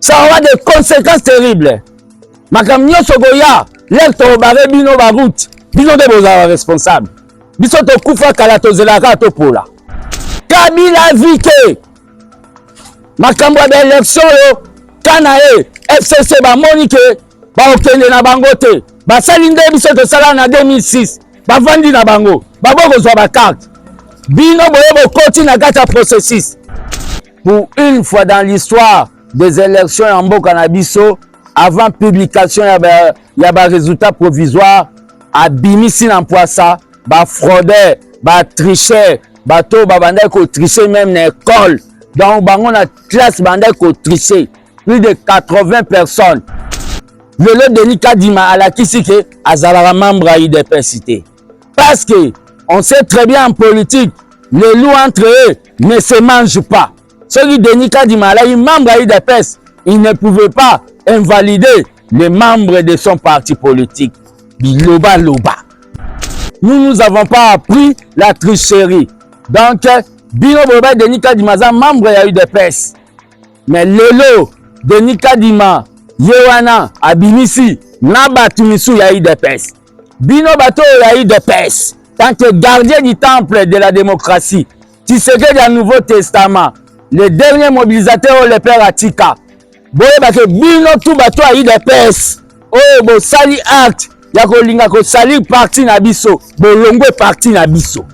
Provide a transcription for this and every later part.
ça aura des conséquences terribles makambo nyonso koya lere tokobare bino baroute bino nde bozala responsable biso tokufa kala tozelaka kaka topola kabila vike makambo ya baelektio oyo kana ye fcc bamoni ke bakokende na bango te basali nde biso tosala na 2006 bavandi na bango babokozwa bakarte bino boye bokoti na kati ya processus pour une fois dans l'histoire des élections ya mboka na biso avant publication ya ba, ya ba résultats provisoires abimisi na mpwasa ba fraudeur ba tricheur bato oyo babandaki kotriche meme na école donc bango na classe bandaki kotriche plus de 80 personnes lelo denis kadima alakisi ke azalaka membre ya udps te Parce que on sait très bien en politique, les loups entre eux ne se mangent pas. Soki Denis Kadima alaki membre ya UDPS, il ne pouvait pas invalider les membres de son parti politique. Biloba loba. Nous nous avons pas appris la tricherie. Donc bino boba Denis Kadima aza membre ya UDPS. Mais lelo Denis Kadima ye wana abimisi na bato misu ya UDPS. bino bato oyo ya udps tant que gardien du temple de la démocratie tisekedi ya nouveau testament le dernier mobilisateur oyo le père atika boyeba ke bino tu bato ya udps oyo bosali acte ya kolinga kosalir parti na biso bolongwe parti na biso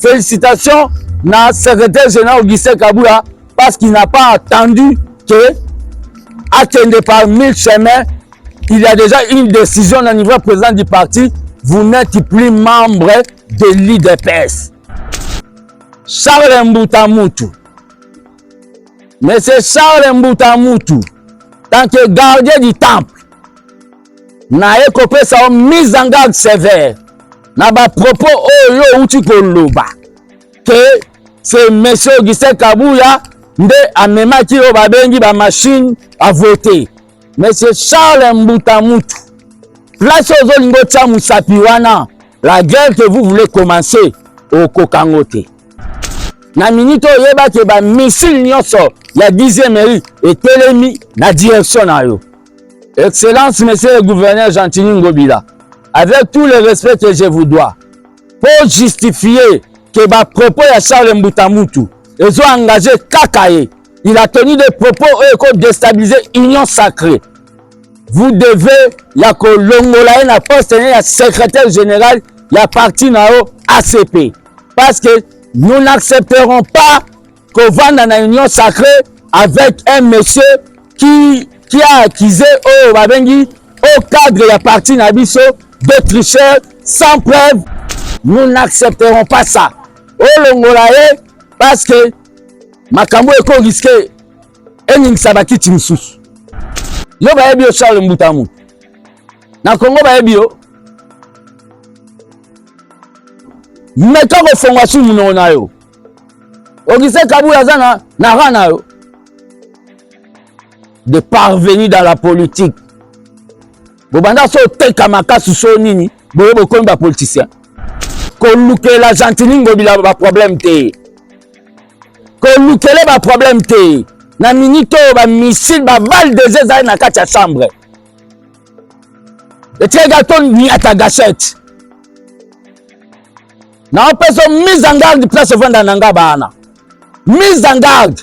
félicitation na secrétaire général augustin kabula parce qu'il n'a pas attendu que akende par mille chemin Il y a déjà une décision na niveau président du parti, vous n'êtes plus membre de l'IDPS. Charles Mbuta Mutu. Monsieur Charles Mbuta Mutu, tant que gardien du temple, naye kopesa yo mise en garde sévère na bapropos oyo oh, outi koloba ke se monsieur augustin kabuya nde amemaki oyo babengi bamashine avote Monsieur Charles Mbutamutu, place ozolinga otya mosapi wana, la guerre que vous voulez commencer, okoka yango te. Na minute oyo oyeba ke ba missile nyonso ya 10e eri etelemi na direction na yo. Excellence, monsieur le gouverneur Gentini Ngobila, avec tout le respect que je vous dois, pour justifier que ba propos ya Charles Mbutamutu ezo engage kaka ye il a tenu des propos oyo eko destabiliser union sacrée vous devez ya kolongola ye na poste ne ya secrétaire général ya parti na yo acp parce que nous n'accepterons pas kovanda na union sacrée avec un monsieur qui, qui a accusé oyo oh, babengi au cadre ya parti na biso de tricheur sans preuve nous n'accepterons pas ça olongola ye parce que makambo eko riske eningisa bakiti mosusu yo bayebi yo charles mbuta moto na kongo bayebi yo meka kofonga su monoko na yo ogise kabula aza na na ra na yo de parvenir dans la politique bobanda so oteka makasi so nini boye bokomi bapoliticien kolukela gentini ngobila baproblème te kolukele baproblème te na minite oyo bamissile babale deja ezali na kati ya chambre etikaka to niata gachette naopesa mise en garde place ovanda na nga baana mise en garde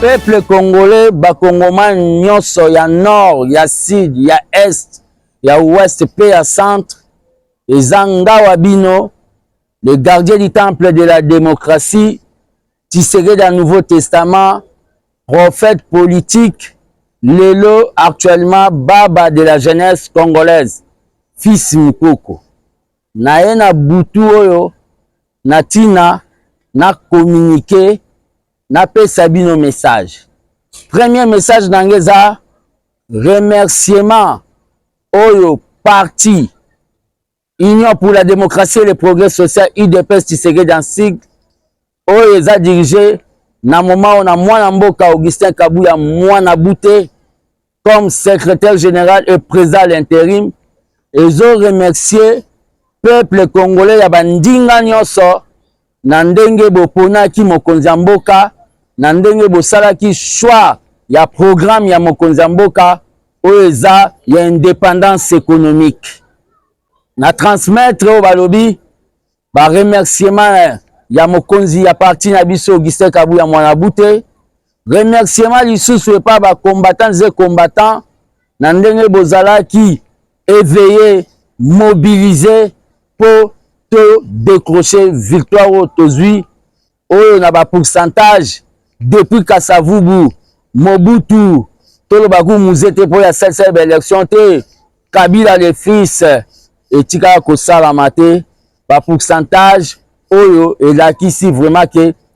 peuple congolais bakongomani nyonso ya nord ya sud ya est ya ouest mpe ya centre eza ngawa bino le gardien du temple de la démocratie Tshisekedi ya Nouveau Testament, prophète politique, lelo actuellement baba de la jeunesse congolaise, fils mukoko. Na ye na butu oyo na tina na communiquer na pesa bino message. Premier message na ngai eza remerciement oyo parti Union pour la démocratie et le progrès social UDPS Tshisekedi en sigle oyo eza dirige na moma oyo na mwana mboka Augustin Kabuya mwana bute comme secrétaire général et président l'intérim ezo remercier peuple congolais ya bandinga nyonso na ndenge boponaki mokonzi ya mboka, na ndenge bosalaki choix ya programme ya mokonzi ya mboka oyo eza ya independance économique. Na transmettre oyo balobi ba remerciement ya mokonzi ya parti na biso Augustin Kabuya Mwana Bute, remerciement lisusu epa ba combattants et combattants na ndenge bozalaki eveiller mobiliser mpo to decrocher victoire oyo tozwi oyo na ba pourcentage depuis kasavubu mobutu toloba ku muze te mpo ya salisa ba élection te kabila le fils etikala kosalama te ba pourcentage oyo elakisi vraiment ke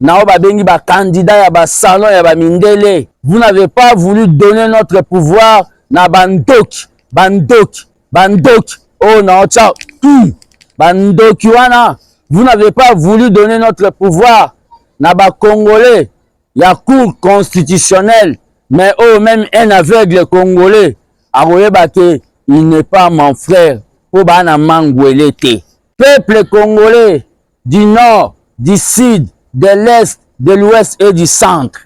Nao babengi ba candidat ya ba salon ya ba mindele. Vous n'avez pas voulu donner notre pouvoir na ba ndoki, ba ndoki, ba ndoki. Oh nao ciao. Hmm. Ba ndoki wana. Vous n'avez pas voulu donner notre pouvoir na ba congolais ya cour constitutionnelle. Mais oh même un aveugle congolais akoyeba te il n'est pas mon frère mpo baa na mangwele te peuple congolais du nord, du sud, de l'est, de l'ouest et du centre.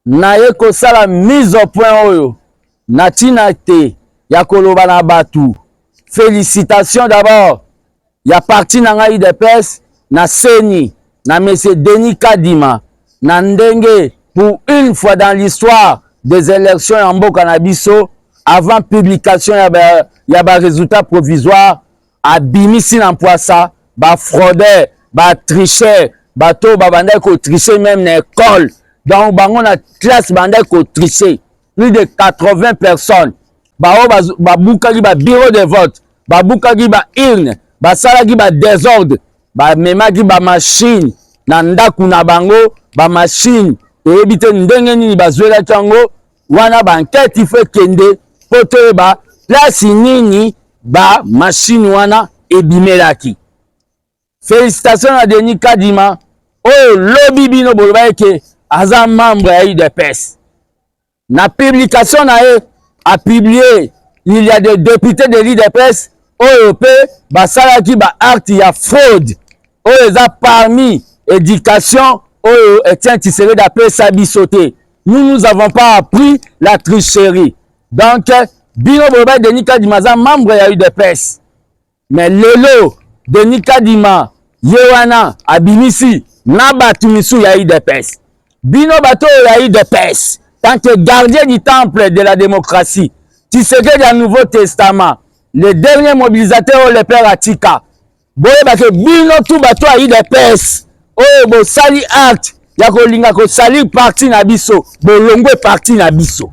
Naye kosala mise au point oyo na tina te ya koloba na batu. Felicitations d'abord ya parti na ngai UDPS na seni na monsieur Denis Kadima na ndenge pour une fois dans l'histoire des élections ya mboka na biso avant publication ya ba, ya ba résultats provisoires abimisi na mpwasa ba fraudeur ba tricheur bato oyo babandaki kotriche meme na ecole donc bango na classe babandaki kotriche plus de 80 personnes baoyo babukaki ba bureau de vote babukaki ba urne basalaki ba desordre bamemaki ba machine na ndako na bango ba machine toyebi te ndenge nini bazwelaki yango wana ba enquête il faut ekende mpo toyeba place nini ba machine wana ebimelaki félicitation na denis kadima oyo lobi bino boloba eke aza membre ya udps na publication na ye apublie il y a des députés de l'udps oyo mpe basalaki baacte ya fraude oyo eza parmi éducation oyo Etienne Tshisekedi apesa biso te nous nous avons pas appris la tricherie donc bino boyeba Denis Kadima aza membre ya UDPS mais lelo Denis Kadima ye wana abimisi na bato misusu ya UDPS bino bato oyo ya UDPS tant que gardien du temple de la démocratie Tshisekedi ya Nouveau Testament le dernier mobilisateur oyo le père atika boyeba ke bino tu bato ya udps oyo bosali acte ya kolinga kosalir parti na biso bolongwe parti na biso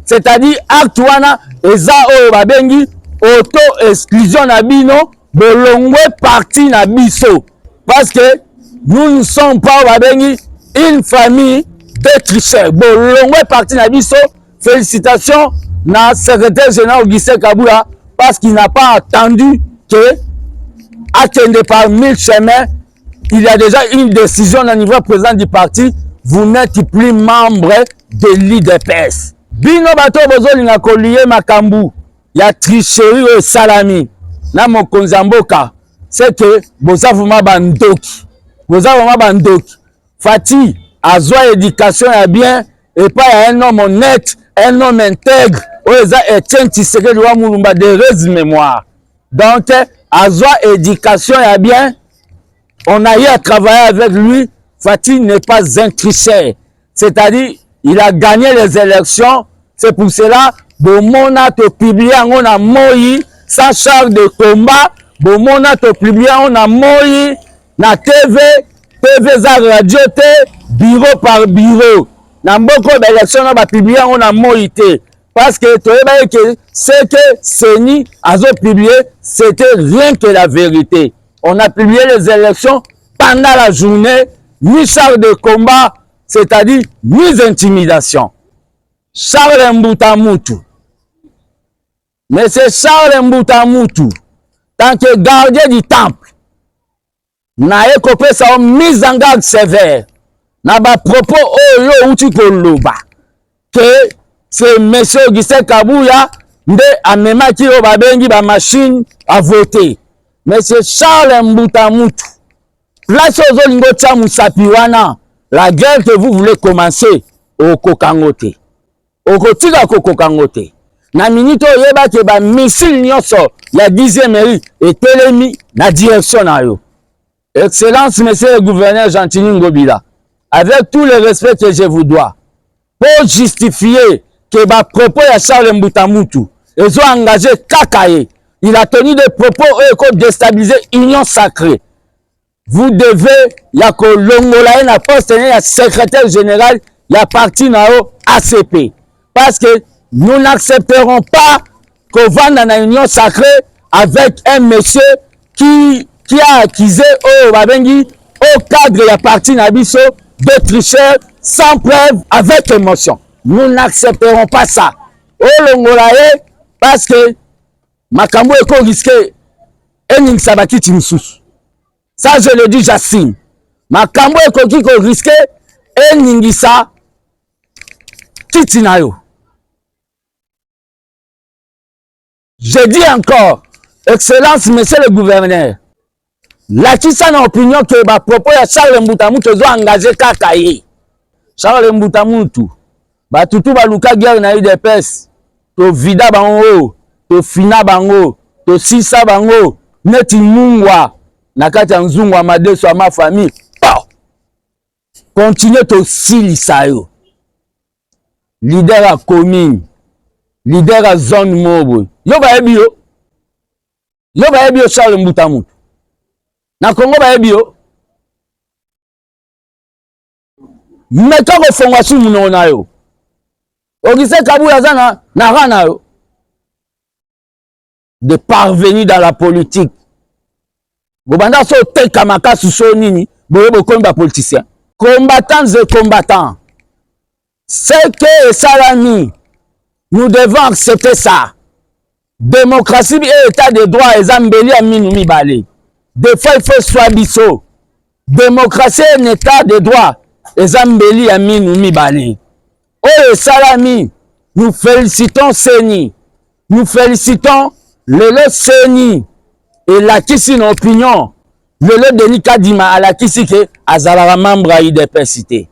c'est-à-dire acte wana eza oyo babengi auto exclusion na bino bolongwe parti na biso parce que nous ne sommes pas babengi une famille de tricheurs bolongwe parti na biso Félicitations na secrétaire général Augustin Kabula parce qu'il n'a pas attendu que attendez par mille chemins. Il y a déjà une décision au niveau président du parti. Vous n'êtes plus membre de l'IDPS. Bino bato bozolinga koliye makambu ya tricherie oyo esalami na mokonzi ya mboka c'est que boza vraiment bandoki boza vraiment bandoki Fatshi azwa education ya bien epai ya un homme honnête, un homme integre oyo eza Etienne Tshisekedi wa Mulumba de heureuse memoire. Donc azwa education ya bien, on a eu à travailler avec lui. Fatshi n'est pas un tricheur, c'est-à-dire il a gagné les élections, c'est pour cela bomona to publier yango na moi sa char de combat bomona to publier yango na moi na tv tv eza radio te bureau par bureau na mboka oyo baelection na bapiblie yango na moi te parce que toyebaki ke ce que seni azopiblie c'était rien que la vérité on a publié les élections pendant la journée ni char de combat c'est-à-dire ni intimidation charles mbuta mutu Monsieur Charles Mbuta Mutu, tant que gardien du temple, naye kopesa yo mise en garde sévère na ba propos oyo yo outi koloba que c'est monsieur Augustin Kabuya nde amemaki oyo babengi ba machine à voter. Monsieur Charles Mbuta Mutu, place ozolinga otya mosapi wana, la guerre que vous voulez commencer okokango te. Okotika kokoka ngo te. Na minute oyo yeba ke ba missile nyonso ya 10e eri etelemi na direction na yo. Excellence monsieur le gouverneur Gentini Ngobila, avec tout le respect que je vous dois, pour justifier que ba propos ya Charles Mbutamutu ezo engager kaka ye. Il a tenu des propos oyo eko destabiliser union sacrée. Vous devez ya kolongola ye na poste ne ya secrétaire général ya parti na yo ACP. Parce que nous n'accepterons pas kovanda na union sacrée avec un monsieur qui, qui a accusé oyo oh, babengi au cadre ya parti na biso de tricheur sans preuve avec émotion. Nous n'accepterons pas ça. Olongola ye parce que makambo eko riske eningisa bakiti misusu ça je le dis j'assime makambo ekoki ko riske eningisa kiti na yo je dis encore excellence monsieur le gouverneur Lakisa na opinion que ba propos ya Charles Mbuta Mutu ezo engage kaka ye. Charles Mbuta Mutu, batutu baluka guerre na UDPS, to vida bango, to fina bango, to sisa bango, neti mungwa na kati ya nzungu ya madeso ya ma famille. Pow! Continue tosilisa yo. Leader ya commune, leader ya zone moko boye. Yo bayebi yo. Yo bayebi yo Charles Mbuta Mutu. Na Congo bayebi yo. Meka kofongwa su munoko na yo. Ogise Kabula aza na na ra na yo. De parvenu dans la politique. Bobanda so oteka makasi so nini boye bokomi ba politiciens. Combattants et combattants. Ce que esalami, nous devons accepter ça. Démocratie et état de droit eza mbeli ya minu mibale. Des fois il faut soit biso. Démocratie et état de droit eza mbeli ya minu mibale. Oyo esalami, nous félicitons CENI. Nous felicitons lelo seni elakisi na opinion lelo Denis Kadima alakisi ke azalaka membre ya UDPS te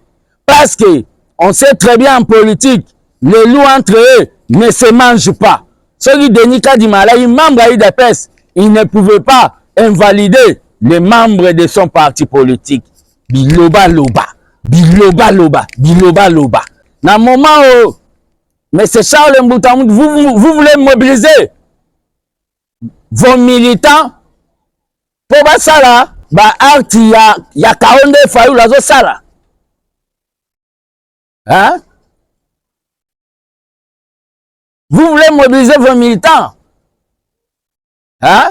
parce que on sait très bien en politique les loups entre eux ne se mangent pas soki Denis Kadima alaki membre ya UDPS il ne pouvait pas invalider les membres de son parti politique biloba loba biloba loba biloba loba na moment oyo Monsieur Charles Mbuta, vous, vous, vous voulez mobiliser vos militants pour basala ba actes ya, ya Kaonde Fayulu azosala hein? Vous voulez mobiliser vos militants hein?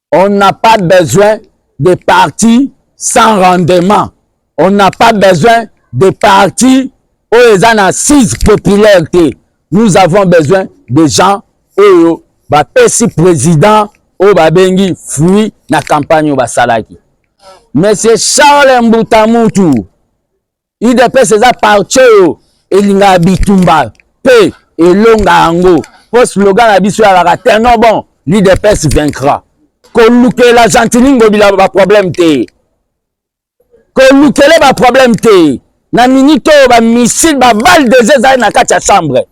On n'a pas besoin de partir sans rendement. On n'a pas besoin de partir oyo eza na assise populaire te. Nous avons besoin de gens oyo bapesi président oyo babengi fruit na campagne oyo basalaki. Monsieur Charles Mbutamutu udps eza parti oyo elingaka bitumba mpe elonga yango mpo slogan na biso yalaka te non bon l'udps vaincra kolukela gentili ngobila baproblème te kolukele baproblème te na minute oyo bamissile babale deja ezali na kati ya chambre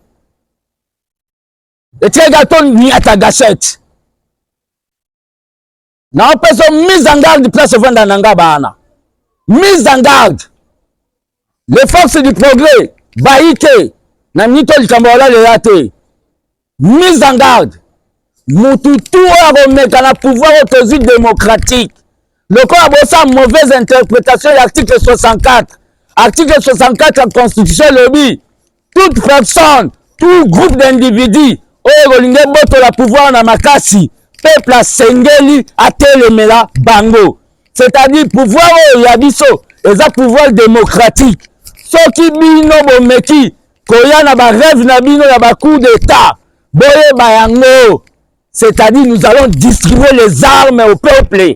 etikaki ato niata gachette na opesa mise en garde place evanda na nga baana mise en garde les forces du progrès bayi te na mito likambo olalela te mise en garde mutu tu oyo akomeka na pouvoir oyo tozwi démocratique lokola bosala mauvaise interprétation ya article 64 article 64 ya constitution elobi toute personne tout groupe d'individus oyo ekolingi ebotola pouvoir na makasi peuple asengeli atelemela bango c'est-à-dire pouvoir oyo ya biso eza pouvoir démocratique soki bino bomeki koya na barêve na bino ya bacour d'état boyeba yango c'est-à-dire nous allons distribuer les armes au peuple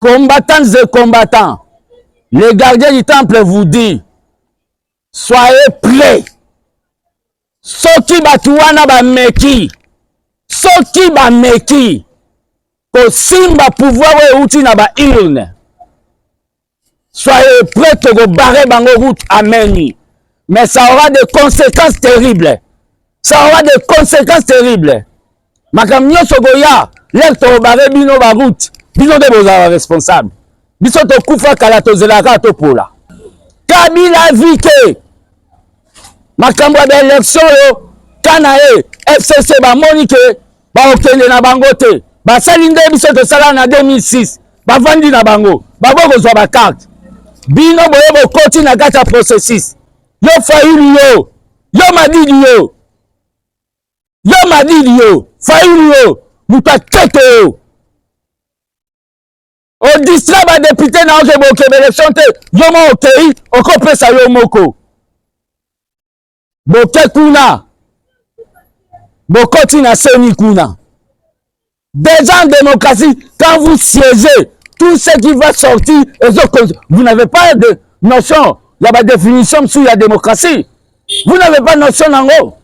Combattants et combattants, le gardien du temple vous dit, soyez prêts. Soki bato wana bameki, soki bameki kosimba pouvoir oyo euti na ba urne, Soyez prêts toko barrer bango route ameni. Mais ça aura des conséquences terribles. Ça aura des conséquences terribles. Makambo nyonso koya lek toko barrer bino ba route. Bino nde bozala responsable. Biso tokufa kala tozelaka kaka topola. Kabila vike. Makambo ya ba élection yo kana ye FCC bamoni ke bakokende na bango te basali nde biso tosala na 2006 bavandi na bango bakoki kozwa bakarte bino boye bokoti na kati ya processus yo fayulu yo yo madidi yo yo madidi yo fayulu yo moto akete yo odistra badepute na oke bokebelektion te yo moko okei okopesa yo moko boke kuna bokoti na seni kuna des ans démocratie quand vous siégez tout ce qui va sortir vous n'avez pas de notion ya badéfinition mosusu ya démocratie vous n'avez pas notion nango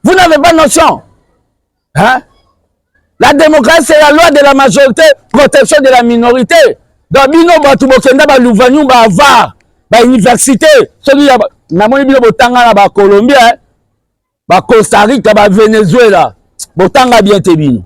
vous n'avez pas notion Hein? La démocratie, c'est la loi de la majorité, protection de la minorité. Donc, bino, batu, bokenda, ba louvanium, ba avar, ba université, celui là, na moni bino, botanga, na ba Colombien, hein? ba Costa Rica, ba Venezuela, botanga bien te bino.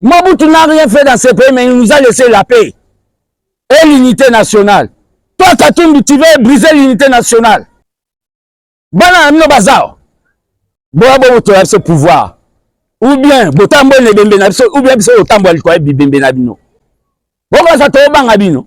Mobutu n'a rien fait dans ce pays, mais il nous a laissé la paix et l'unité nationale. Toi, Katumbi, tu veux briser l'unité nationale. Bana amino bazao. Boa bobo to ce pouvoir. Ou bien, botambo ne bembe na biso, ou bien biso otambo alikoye bibembe na bino. Boko sa to banga bino.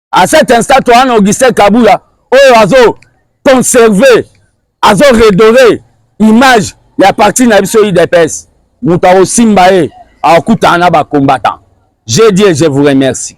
à cet instant toa na augustin kabuya oyo azo conserve azo redore image ya parti na biso udps moto akosimba ye akokutana na bacombattant je dis je vous remercie